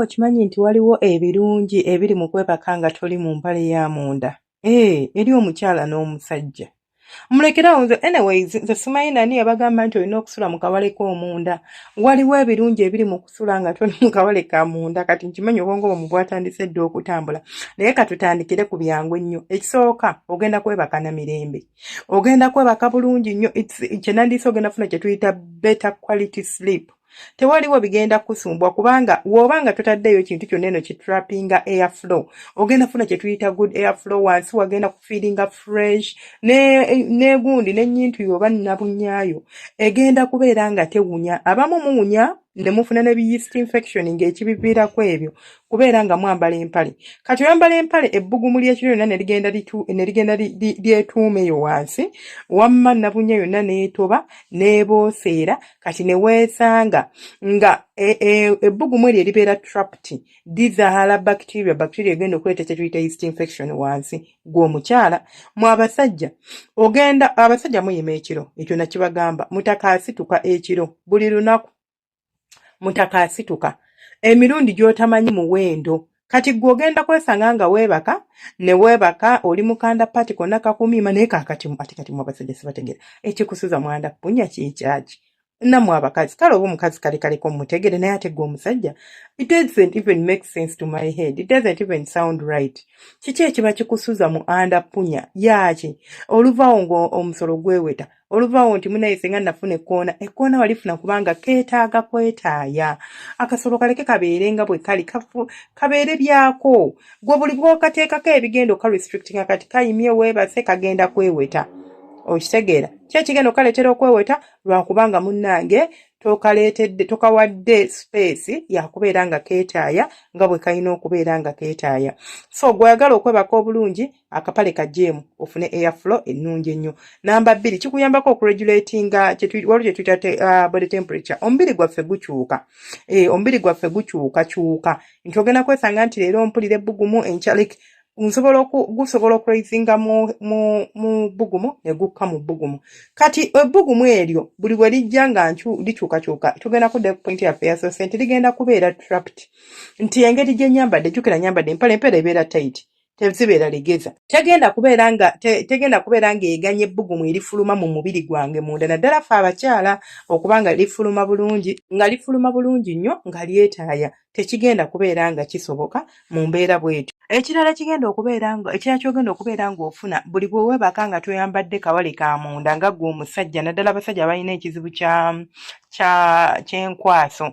okimanyi nti waliwo ebirungi ebiri mu kwebaka nga toli mu mpale ya munda ee eh, eri omukyala n'omusajja mulekerawo nze anyways nze simanyi nani yabagamba nti olina okusula mu kawale k'omunda waliwo ebirungi ebiri mu kusula nga toli mu kawale ka munda kati nkimanyi obwongo bwe mubwatandise dda okutambula naye katutandikire ku byangu ennyo ekisooka ogenda kwebaka na mirembe ogenda kwebaka bulungi nnyo kyenandiisa ogenda funa kye tuyita better quality sleep tewaliwo bigenda kusumbwa kubanga woba nga totaddeeyo kintu kyonna eno kitrapinga air flow ogenda funa kyetuyita good air flow wansi wagenda kufiiringa fresh negundi ne nenyintu yoba nabunyaayo egenda kubeera nga tewunya abamu muwunya nemufuna ne biyist infection ng'ekibiviirako ebyo kubeera nga mwambala empale kati oyambala empale ebbugumu ly'ekiro yonna nerigenda nerigenda lyetuuma eyo wansi wamma nabunya yonna n'etoba n'ebooseera kati neweesanga nga e, e, ebbugumu eryo eribeera trapt dizaala bacteria bacteria egenda okuleeta kyetuyita east infection wansi gwomukyala mwabasajja ogenda abasajja muyima ekiro ekyo nakibagamba mutaka asituka ekiro buli lunaku mutaka asituka emirundi gyotamanyi muwendo kati gwe ogenda kwesanga nga weebaka ne weebaka oli mukanda pati konna kakumiima naye kakati ate kati mu abasajja sibategera ekikusuza mwanda punya kyekyaki namwe abakazi kale oba omukazi kale kaleko mutegere naye ate gwe omusajja it doesn't even make sense to my head it doesn't even sound right kiki ekiba kikusuza mu anda punya yaaki oluvawo ngaomusolo gweweta oluvaawo nti munaye senga nafuna ekkoona ekkoona walifuna kubanga keetaaga kwetaaya akasolo kaleke kabeere nga bwe kali kabeere byako gwe buli bwokateekako ebigenda oka restrictinga kati kayimye weebase kagenda kweweta okitegeera ki ekigenda okukaleetera okweweta lwakubanga munnange tokaleetedde tokawadde space yakubeera nga keetaaya nga bwe kalina okubeera nga keetaaya so gweoyagala okwebaka obulungi akapale ka jeemu ofune air flow ennungi ennyo namba bbiri kikuyambako okuregulatinga waliwo kye tuyita uh, body temperature omubiri gwaffe gukyuka eh, omubiri gwaffe gukyukakyuka nti ogenda kwesanga nti leero mpulira ebbugumu enkya like nsobola gusobola okuraisinga mu bugumu ne gukka mu bugumu kati ebbugumu eryo buli bwe lijja nga ncu likyukakyuka tugenda kudda ku pointi yaffe yasose nti ligenda kubeera trapped nti engeri gye nyambadde jukira nyambadde empale empeera ebeera tight tezibeera legeza tegenda kubeera nga te, tegenda kubeera nga eganye ebbugumu erifuluma mu mubiri gwange munda naddala fe abakyala okuba nga lifuluma bulungi nga lifuluma bulungi nnyo nga lyetaaya tekigenda kubeera nga kisoboka mu mbeera bwetyo ekirala kigenda okubeera nga ekirala kyogenda okubeera ng'ofuna buli bwe weebaka nga toyambadde kawale ka munda nga gwe omusajja naddala abasajja abalina ekizibu kya kya kyenkwaso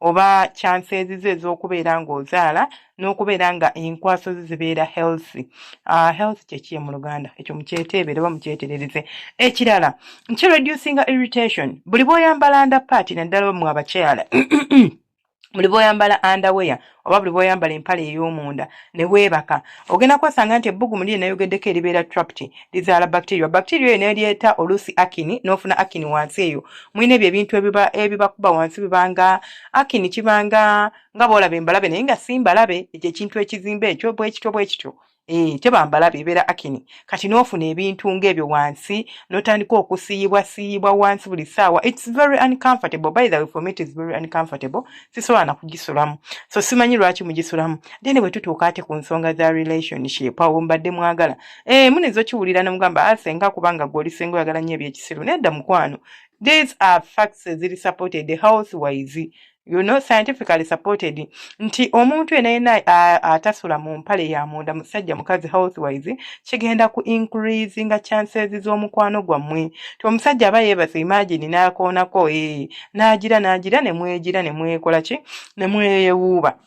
oba chances ze ez'okubeera ng'ozaala n'okubeera nga enkwaso ze zibeera healthy uh, healthy kyekiye mu luganda ekyo mukyeteebere oba mukyeterereze ekirala nki reducinga irritation buli bwoyambala nda paati naddala mwe abakyala buli bwoyambala andaweya oba buli bwoyambala empale ey'omunda ne weebaka ogenda kwasanga nti ebbugumu liri nayogeddeko eribeera trapped lizaala bacteria bacteria eyo nelyeta oluusi akini nofuna akini wansi eyo mulina ebyo ebintu ebibakuba wansi bibanga akini kibanga nga bolaba embalabe naye nga simbalabe ekyo ekintu ekizimba ekyo bwekityo bwekityo Eh, tebambala bibera akini kati nofuna ebintu ng'ebyo wansi notandika okusiyibwa siyibwa wansi buli saawa its very uncomfortable by the way for me it is very uncomfortable sisobola nakugisulamu so simanyi lwaki mugisulamu then bwe tutuuka ate ku nsonga za relationship awo mbadde mwagala Eh, mune zokiwulira ne mugamba ah, senga kubanga gwe oli senga oyagala nnyo ebyekisiru nedda mukwano these are facts eziri supported health wise you know scientifically supported nti omuntu ena yena atasula mu mpale ya munda musajja mukazi health wise kigenda ku increase nga chances z'omukwano gwammwe ti omusajja aba yeebase imagine n'akoonako ee eh, n'agira n'agira ne mwegira ne mwekola ki ne mweyewuuba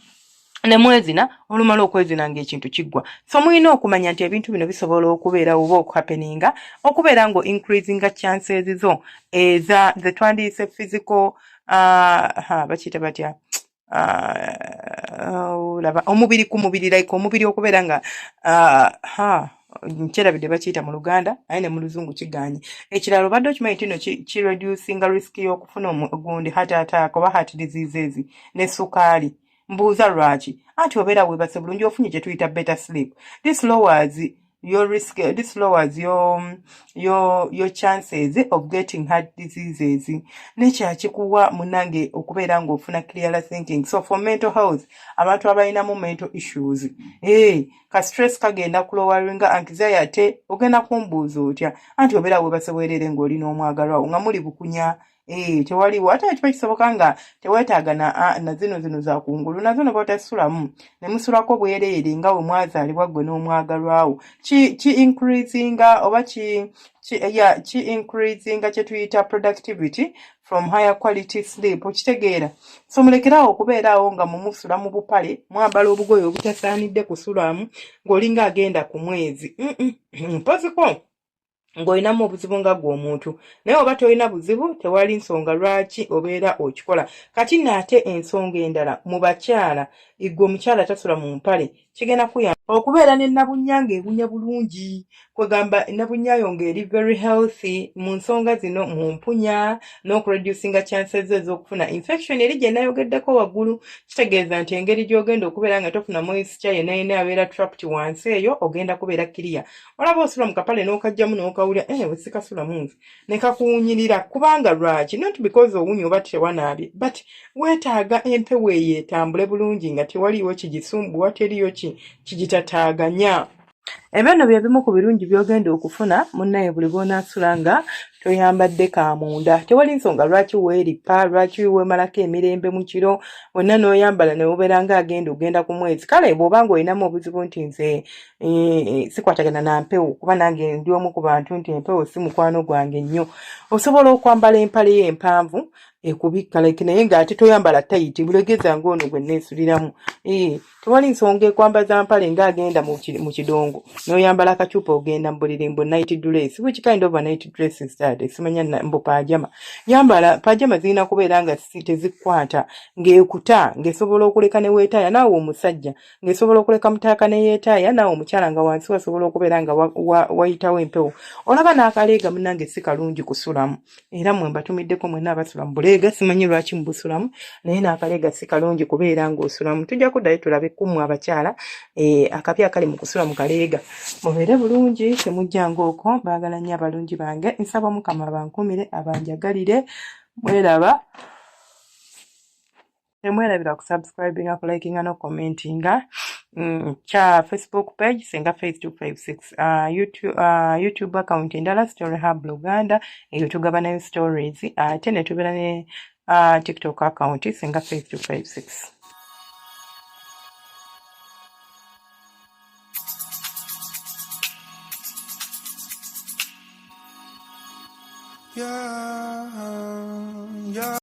ne mwezina olumala okwezina ng'ekintu kiggwa so mulina okumanya nti ebintu bino bisobola okubeerawo oba okuhapeninga okubeera nga increasinga chances zo eza ze twandiyise physical uh, bakiyita batya uh, olaba omubiri ku mubiri like omubiri okubeera nga uh, ha nkyerabidde bakiyita mu luganda aye ne mu luzungu kiganye ekirala obadde okimanyi tino kireducinga risk y'okufuna ogundi heart attack oba heart diseases ne sukaali mbuuza lwaki anti obeera webase bulungi ofunye kyetuyita better sleep this lowers your risk this lowers your, your, your chances of getting heart diseases nekyakikuwa munange okubeera ngaofuna clear thinking so for mental health abantu abalinamu mental issues hey, eh, ka stress kagenda kulowaringa anxiety ate ogenda kumbuuza otya anti obeera webase bwerere ngaoli n'omwagalwawo nga muli bukunya Eh, tewaliwo ate kiba kisoboka nga teweetaaga na, na zino zino za kungulu nazo ne batasulamu ne musulako bwereere nga we mwazaalibwa ggwe n'omwagalwawo ki, ki increasinga oba ki, ki, yeah, ki increasinga kye tuyita productivity from higher quality sleep okitegeera so mulekeraawo okubeeraawo nga mumusula mu bupale mwambala obugoye obutasaanidde kusulamu ng'olinga agenda ku mwezi mpoziko mm -mm. ng'olinamu obuzibu nga gwe omuntu naye oba tolina buzibu tewali nsonga lwaki obeera okikola kati naate ensonga endala mu bakyala igwe omukyala tasula mu mpale kigenda kuya okubeera ne nabunya ng'ebunya bulungi kwegamba nabunyayo ng'eri very healthy mu nsonga zino mu mpunya n'okureducinga chances ez'okufuna infection eri gye nayogeddeko waggulu kitegeeza nti engeri gy'ogenda okubeera nga tofuna moisture yenayena abeera tract wansi eyo ogenda kubeera kiriya olaba osula mu kapale n'okajjamu n'okawulira eh, ewe sikasulamu nze ne kakuwunyirira kubanga lwaki not because owunya oba tewanaabye but weetaaga empewo eyo etambule bulungi nga tewaliiwo kigisumbuwa teriyo kigitataaganya ebyo nno bye bimu ku birungi by'ogenda okufuna munnaye buli lw'onaasula nga toyambadde ka munda tewali nsonga lwaki weerippa lwaki weemalako emirembe mu kiro wonna n'oyambala ne wubeera nga agenda ogenda ku mwezi kale bw'oba nga olinamu obuzibu nti nze Eh, eh, sikwatagana na mpewo kuba nange ndi omu ku bantu nti empewo si mukwano gwange nnyo osobola okwambala empale yo empanvu ekubikka like naye ng'ate toyambala tayiti bulegeza ng'ono gwe neesuliramu eh, tewali nsonga ekwambaza mpale ng'agenda mu kidongo n'oyambala akacupa ogenda mu buliri mbu night dress which kind of a night dress is that simanya mbu pajama yambala pajama zirina kubeera nga tezikwata ng'ekuta ng'esobola okuleka ne weetaaya naawe omusajja ng'esobola okuleka mutaaka ne yeetaaya naawe omukyala nga wansi wasobola okubeera nga wayitawo empewo olaba n'akaleega munange si kalungi kusulamu era mwe mbatumiddeko mwena abasula mu buleega simanyi lwaki mubusulamu naye n'akaleega si kalungi kubeera ng'osulamu tujja kuddayo tulabe kummwe abakyala eh, akabi akali mu kusula mu kaleega mubeere bulungi temujjanga okwo baagala nnyo abalungi bange nsaba mukama abankumire abanjagalire mweraba temwerabira ku subscribinga ku likinga no commentinga mm, kya facebook page senga face 256 uh, youtube, uh, youtube account endala story hub uganda eyo tugaba nayo stories ate uh, netubera ne uh, tiktok account senga face 256 Yeah, yeah.